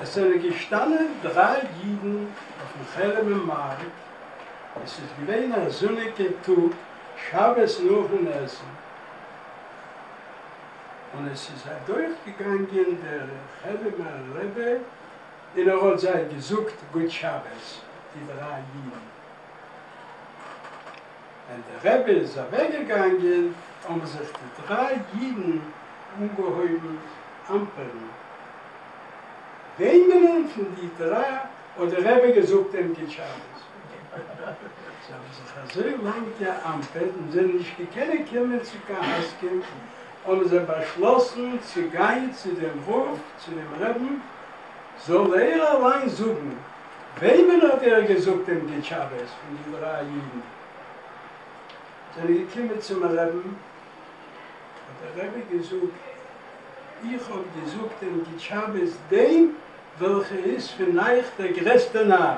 עס זענען געשטאנען דריי אידן אויפן חרמ'ער מארק, עס איז געווען א זוניגע טאג שבת נאכן עסן, און עס איז אדורך געגאנגען דער חרמ'ער רבי און ער האט זיי געזאגט גוט שבת, די דריי אידן. ווען דער רבי איז אוועק געגאנגען האבן זיך די דריי אידן אנגעהויבן אמפערן, וועמענען פון די דריי האט דער רבי געזאגט עונג שבת? זיי האבן זיך אזוי לאנג געאמפערט און זענען נישט געקענען קומען צו קיין הסכם, האבן זיי באשלאסן צו גיין צו דעם רב צו דעם רבין זאל ער אליין זאגן וועמען האט ער געזאגט דעם די תשבות פון די דריי אידן זענען געקומען צום רבין האט דער רבי געזאגט איך האב געזאגט דעם די תשבות דעם וועלכע איז פון אייך דער גרעסטע נאר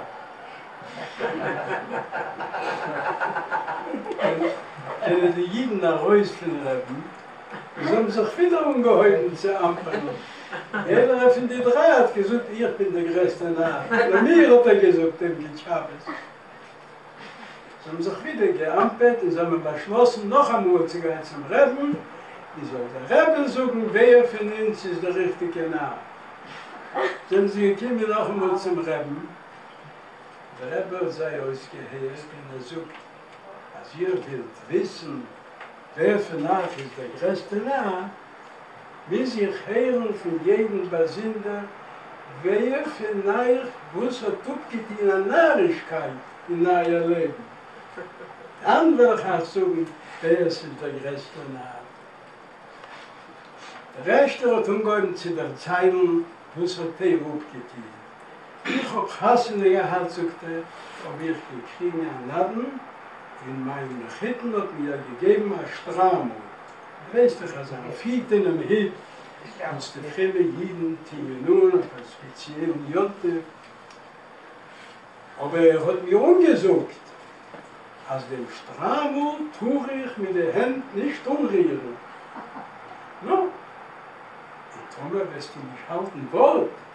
זענען די אידן ארויס פון רבין. און זיי האבן זיך ווידער אנגעהויבן צו אמפערן, יעדערער פון די דריי האט געזאגט איך בין די גרעסטע נאר, לאמיר האט ער געזאגט אים גוט שבת. זיי האבן זיך ווידער געאמפערט און זיי האבן באשלאסן נאכאמאהל צו גיין צום רעבין און זאל דער רעבין זאגן ווער פון אונז איז די ריכטיגע נאר. זענען זיי געקומען נאכאמאהל צום רעבין, דער רבי האט זיי אויסגעהערט און ער זאגט, אז איר ווילט וויסן ווער פון אייך איז דער גרעסטע נאר, מוז איך הערן פון יעדן באזונדער ווער פון אייך וואס האט אפגעטון א נארישקייט אין אייער לעבן, דאן וועל איך אייך זאגן ווער ס'איז דער גרעסטע נאר. דער ערשטער האט אנגעהויבן צו דערציילן וואס האט ער אפגעטון. איך האב חתונה געהאט זאגט ער האב איך געקריגן א נדן און מיין מחותן האט מיר געגעבן א שטריימל, ווייסט איך אז אפי' אינעם היט וואס די פרומע אידן טוען אן אויף א ספעציעלן יום טוב, אבער ער האט מיר אנגעזאגט אז דעם שטריימל טאר איך מיט די הענט נישט אנרירן, נו און טאמער וועסטו נישט האלטן ווארט.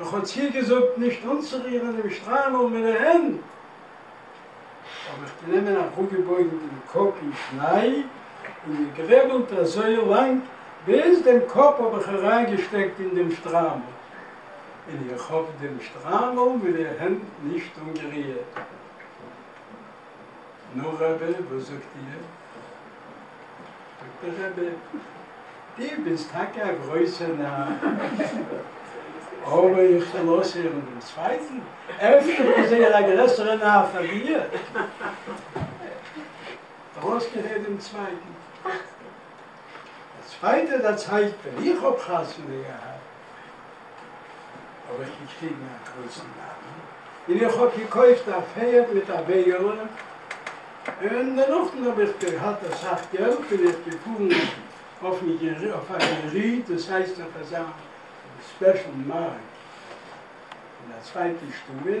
איך האב צו איר געזאגט נישט אנצורירען דעם שטריימעל מיט די הענט, האב איך גענומען אראפגעבויגען דעם קאפ אין שניי און געגרעבעלט אזוי לאנג ביז דעם קאפ האב איך אריינגעשטעקט אין דעם שטריימעל, און איך האב דעם שטריימעל מיט די הענט נישט אנגערירט. נו רבי וואס זאגט איר? זאגט דער רבי, די ביסט טאקע א גרויסע נאר, אבער איך זאל אויסהערן דעם צווייטן? אפשר איז ער א גרעסערע נאר פאר דיר? ער אויסגעהערט דעם צווייטן, דער צווייטער דערציילט, ווען איך האב חתונה געהאט, האב איך געקריגן א גרויסן נאמען, און איך האב געקויפט א פערד מיט א וועגעלע, און דערנאכ'ן האב איך געהאט אסאך געלט בין איך געפארן אויף א יריד, דאס הייסט אויף אזא ספעשל מארק אין א צווייטע שטובער,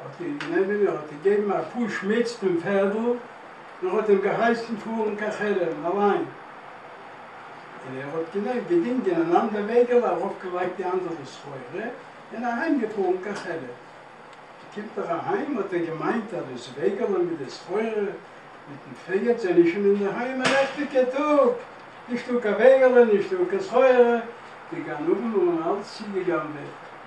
האָט אים גענומען און האָט אים געגעבן אַ פּוש מיץ פון פערדל און האָט אים געהייסן פאָרן קיין חרם אַליין, און ער האָט גענוי געדינגען אַן אַנדער וועגעלע, אַרויפגעלייגט די אַנדערע סחורה און אַהיימגעפאָרן קיין חרם. קומט ער אַהיים, האָט ער געמיינט, אַז דאָס וועגעלע מיט די סחורה מיטן פערד זענען שוין אינדערהיים. אַ לעכטיגער טאָג, נישטאָ קיין וועגעלע, נישטאָ קיין סחורה, די גנבים האָבן אַלץ צוגעגנבעט,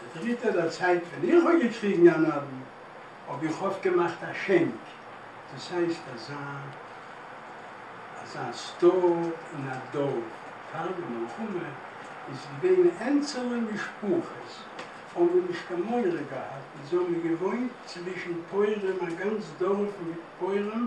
דער דריטער דערציילט, ווען איך האב געקריגן א נדן האב איך אפט געמאכט א שענק, דאס הייסט אזא אזא סטאר אין א דארף, פאר די מלחמה איז געווען ענצעלע משפחות האבן מיר נישט קיין מורא געהאט, אונז האבן מיר געוואוינט צווישן פויערים, א גאנץ דארף מיט פויערים,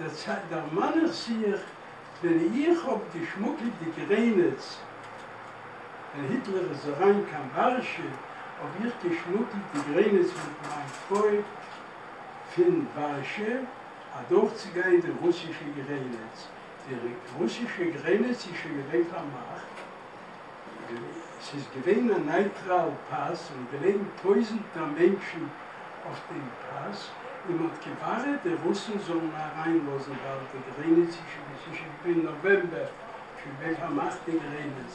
דערצייט דערמאן איך זיך ווען איך האב געשמאקלט די גרענעץ, ווען היטלער איז אריין קיין ווארשע האב איך געשמאקלט די גרענעץ מיט מיין פרוי פין ווארשע אדורך צי גיין די רוסישע גרענעץ, די רוסישע גרענעץ איז שוין געווען פארמאכט, עס איז געווען א נייטראל פאס און געלעגן טויזענטער מענטשן אויף דעם פאס און מען האט געווארעט די רוסן זאלן אריינלאזן באלד די גרעניץ עס איז שוין געווען נאוועמבער שוין ווען פארמאכט די גרעניץ.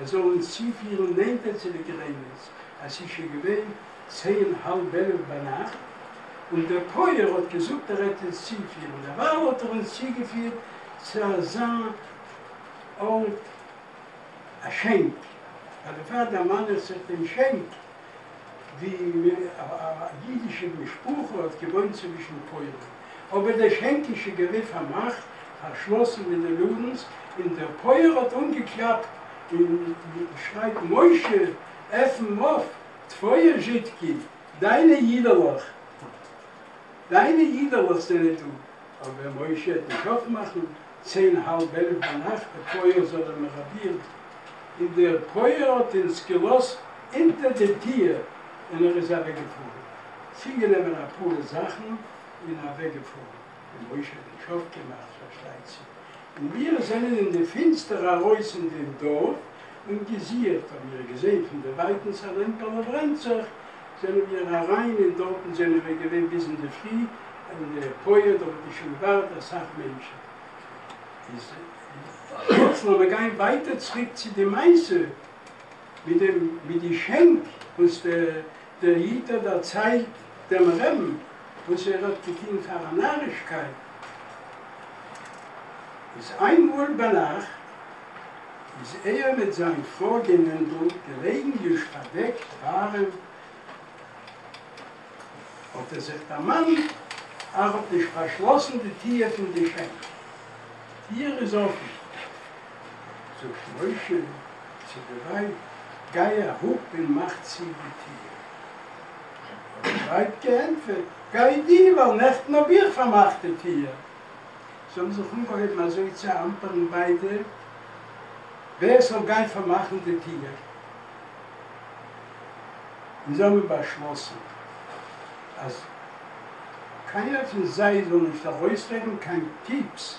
עס זאל אונז צופירן נענטער צו די גרעניץ, אז ס'איז שוין געווען צען האלב עלף ביינאכט, און דער פויער האט געזאגט ער העט אונז צופירן, דערווייל האט ער אונז צוגעפירט צו אזא ארט, א שענק, אבער פאר דערמאן איך זיך דעם שענק, די יידישע משפחה האט געוואוינט צווישן פוילן, אבער דער שענקישע געריכט פארמאכט, פארשלאסן די נעלאגענס, און דער פויער האט אנגעקלאפט און שרייט משה עפן אויף טפויער זשידקי, דיינע יידעלעך, דיינע יידעלעך זענען דא. אבער מוישי האט נישט אפמאכן צען האלב עלף ביינאכט די פויער זאל ער מיר אבירן, און דער פויער האט אונז געלאזט אונטער די טיר און ער איז אוועק געפארן צוגענעמען אפאר זאכן און אוועק געפארן, און מוישי האט נישט אויפגעמאכט פארשטייט זיך, און מיר זענען אין די פינסטער ארויס אין דעם דארף, און געזיערט, האָבן מיר געזען פֿון דער װײַטנס אַ לעמפּעלע ברענט זיך, זענען מיר אַרײַן, און דאָרטן זענען מיר געװען ביז אין דער פֿרי אין דער פּױער, דאָ װאָס איז שױן װאַרט אַ סך מענטשן. איז יעצט לאָמיר גײן װײַטער צוריק צו די מעשׂה מיט דעם, מיט די שענק, װאָס דער דער איד האט דערציילט דעם רעבן וואס ער האט געטוהן פאר א נארישקייט, איז איינמאהל ביינאכט איז ער מיט זיין פרוי גענענדל געלעגן יוש פארדעקט ווארעם, האט ער זיך דערמאנט ער האט נישט פארשלאסן די טיהר פון די שענק, טיהר איז אפען, זאגט משה צו די ווייב, גיי אראפ און מאך צו די טיר. האט די ווייב געענטפערט, גיי דו, ווייל נעכטן האב איך פארמאכט די טיר. זיי האבן זיך אנגעהויבן אזוי צו אמפערן ביידע, ווער ס'זאל גיין פארמאכן די טיר, און זיי האבן באשלאסן אז קיינער פון זיי זאל נישט ארויסרעדן קיין פיפס.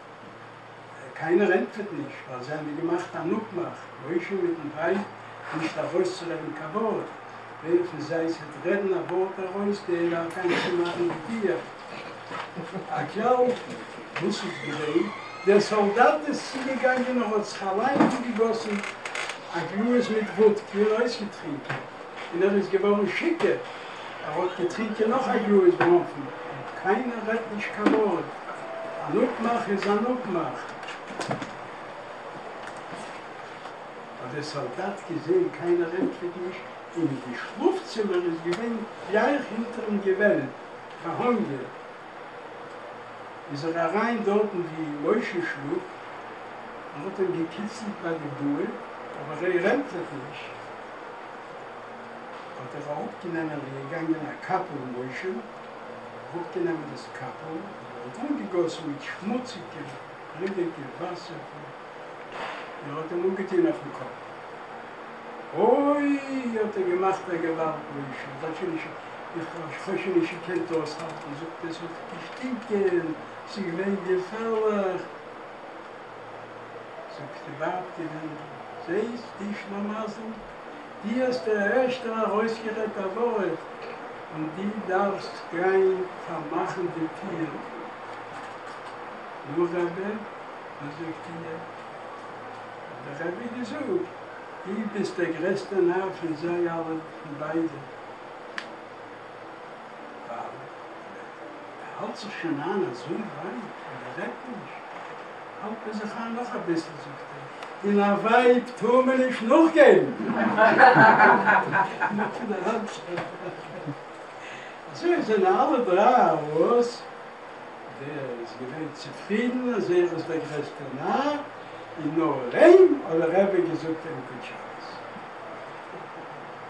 קיינער ענטפערט נישט, ווייל זיי האבן געמאכט אן אפמאך, משה מיטן ווייב, נישט ארויסצורעדן קיין ווארט. ווער פון זיי ס'וועט רעדן א ווארט ארויס, דער דארף גיין צומאכן די טיר. הכלל, וואס איז געווען? דער סאלדאט איז צוגעגאנגען, און האט זיך אליין אנגעגאסן א גלאז מיט וואדקע און אויסגעטרינקען, און ער איז געווארן שיכור. ער האט געטרינקען נאך א גלאז בראנפן, קיינער רעדט נישט קיין ווארט, אן אפמאך איז אן אפמאך. האט דער סאלדאט געזען קיינער ענטפערט נישט, אין די שלאף צימער איז געווען ווי אייך אינטערן געוועלב, פאר הונגער איז ער אריין דארטן ווי משה שלאפט, ער האט אים געקיצלט ביי די בארד, אבער ער ענטפערט נישט. האט ער אראפגענעמען און געגאנגען א קאפל משה, אראפגענעמען דאס קאפל און אנגעגאסן מיט שמוציגע בלוטיגע וואסער פון און האט אים אנגעטוהן אויפן קאפ. אוי האט ער געמאכט א געוואלד משה, איך האב שוין נישט איך האב שוין נישט געקענט אויסהאלטן, זאגט ער עס האט געשטינקען, עס איז געווען געפערליך. זאגט די ווייב די מענדל, זעהסט די שלמזל? די האסט ערשט ארויסגערעדט א ווארט און די דארפסט גיין פארמאכן די טיר. נו רבי, וואס זאגט איר? האט דער רבי געזאגט, די ביסט דער גרעסטער נאר פון זיי אלע, פון ביידע. ווייל ער האלט זיך שוין איין אזוי ווייט אז ער רעדט נישט, האלט מען זיך איין נאך אביסל, זאגט ער, און א ווייב טאר מען נישט נאכגעבן. נאכן אריינצוגיין פארן אויף. אזוי זענען אלע דריי ארויס, דער איז געווען צופרידן אז ער איז דער גרעסטער נאר, און נאר אים האט דער רבי געזאגט ענקער טשאנס.